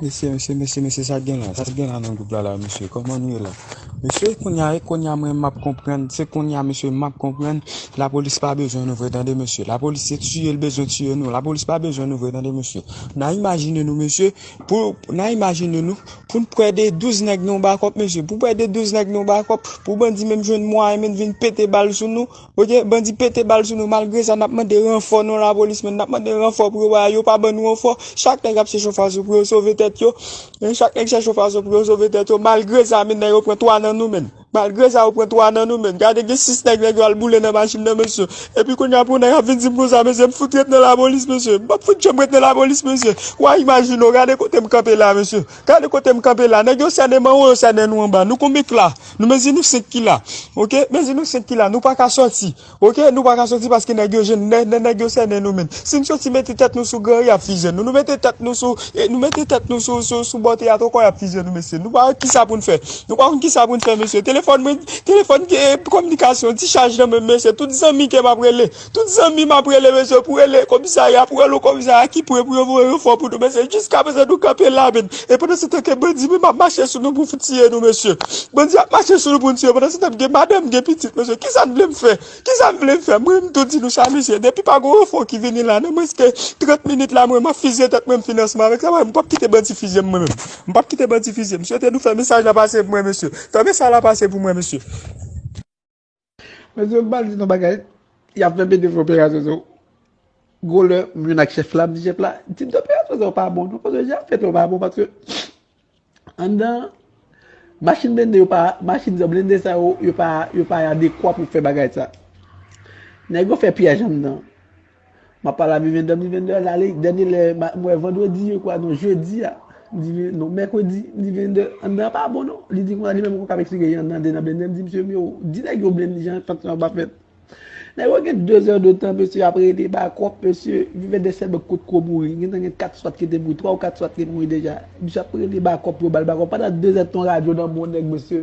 Mesye mesye mesye mesye sak gen la sak gen la nan gwoup la la mesye kòman nou ye la mesye kounya e kounya mwen map konprann se kounya mesye map konprann lapolis pa bezwen nou vre tande mesye lapolis se tiye l bezwen tiye nou lapolis pa bezwen nou vre tande mesye nan imajine nou mesye pou nan imajine nou pou n pwè de 12 nèg nan yon bakòp mesye pou pwè de 12 nèg nan yon bakòp pou bandi menm jwenn mwayen menm vin pete bal sou nou Ok bandi pete bal sou nou malgre sa nap mande ranfò non lapolis men nap mande ranfò pou yo bay yo pa ban nou ranfò chak nèg ap chè chòfazo pou yo sove tèt yo chak nèg chè chòfazo pou yo sove tèt yo malgre sa men yo pran 3 nan nou men malgre sa yo pran 3 nan nou men gade gen 6 nèg nèg yo al boule nan machin nan mesye epi kounya pou nèg ap vin dim konsa mesye m fout ret nan lapolis mesye m pap fout janm ret nan lapolis mesye wa imajine w gade kote m kanpe la mesye. Gade kote m kanpe la. Nèg yo sènen m anwo, yo sènen nou anba. Nou konbyen k la? Nou mezi nou 5 ki la. Ok, mezi nou 5 ki la. Nou pa ka soti. Ok, nou pa ka soti paske nèg yo jwenn nè, nè nèg yo sènen nou menm. Si n soti mete tèt nou sou gran ri y ap fizye nou. Nou mete tèt nou sou, nou mete tèt nou sou, sou, sou bò teyat ankò y ap fizye nou mesye. Nou pa wè ki sa pou n fè. Nou pa konn ki sa pou n fè mesye. Telefòn mwen, telefòn, kòminikasyon, ti chaj nan men m mesye. Tout zanmi ke m ap rele. Tout zanmi m ap rele bezwen pou rele komisarya pou rele yon komisarya ki pre pou yo voye ranfò pou nou mesye jiskaprezan nou kanpe la menm e pandansetan ke bandi menm ap mache sou nou pou fout tiye nou mesye bandi ap mache sou nou pou nou tiye pandansetan m gen madanm m gen pitit mesye kisa n vle m fè kisa n vle m fè m ri m tou di nou sa mesye depi pa gon ranfò ki vini la nan mwens ke 30 minit la mwen m ap fizye tèt mwen m fini ansanm avèk travay mwen m pap kite bandi fizye m mwen menm m pap kite bandi fizye m m swete nou fè mesaj la pase pou mwen mesye fè mesaj la pase pou mwen mesye. Mesye m pral di nou bagay, yap fè bndye fè operasyon sou gwo lè m jwenn ak chèf la m di chèf la tip de operasyon sa yo pa bon non paske jan yap fèt yo pa bon paske anndan machin blende yo pa machin sa blende sa yo yo pa adekwa pou fè bagay sa nèg yo fè pyèj anndan Map pale a Vivian Dam di Vivian Dam ale dènye lè m wè vandredi je kwa non jedi a m di Vivian non mèkredi m di Vivian Dam anndan an pa bon non li di konsa li menm li poko ap eksplike jan anndan an te nan blennde m di mesye m yo di nèg yo blenn jan tanksyon an pa fèt nèg yo gen 2 zè de tan mesye ap rele bakòp mesye Vivian Dam sèlman kot ko mouri gentan gen 4 swat ki te mouri 3 ou 4 swat te mouri deja misye ap rele bakòp yo bal bakòp pandan 2 zè de tan yon radyo nan men yon nèg mesye.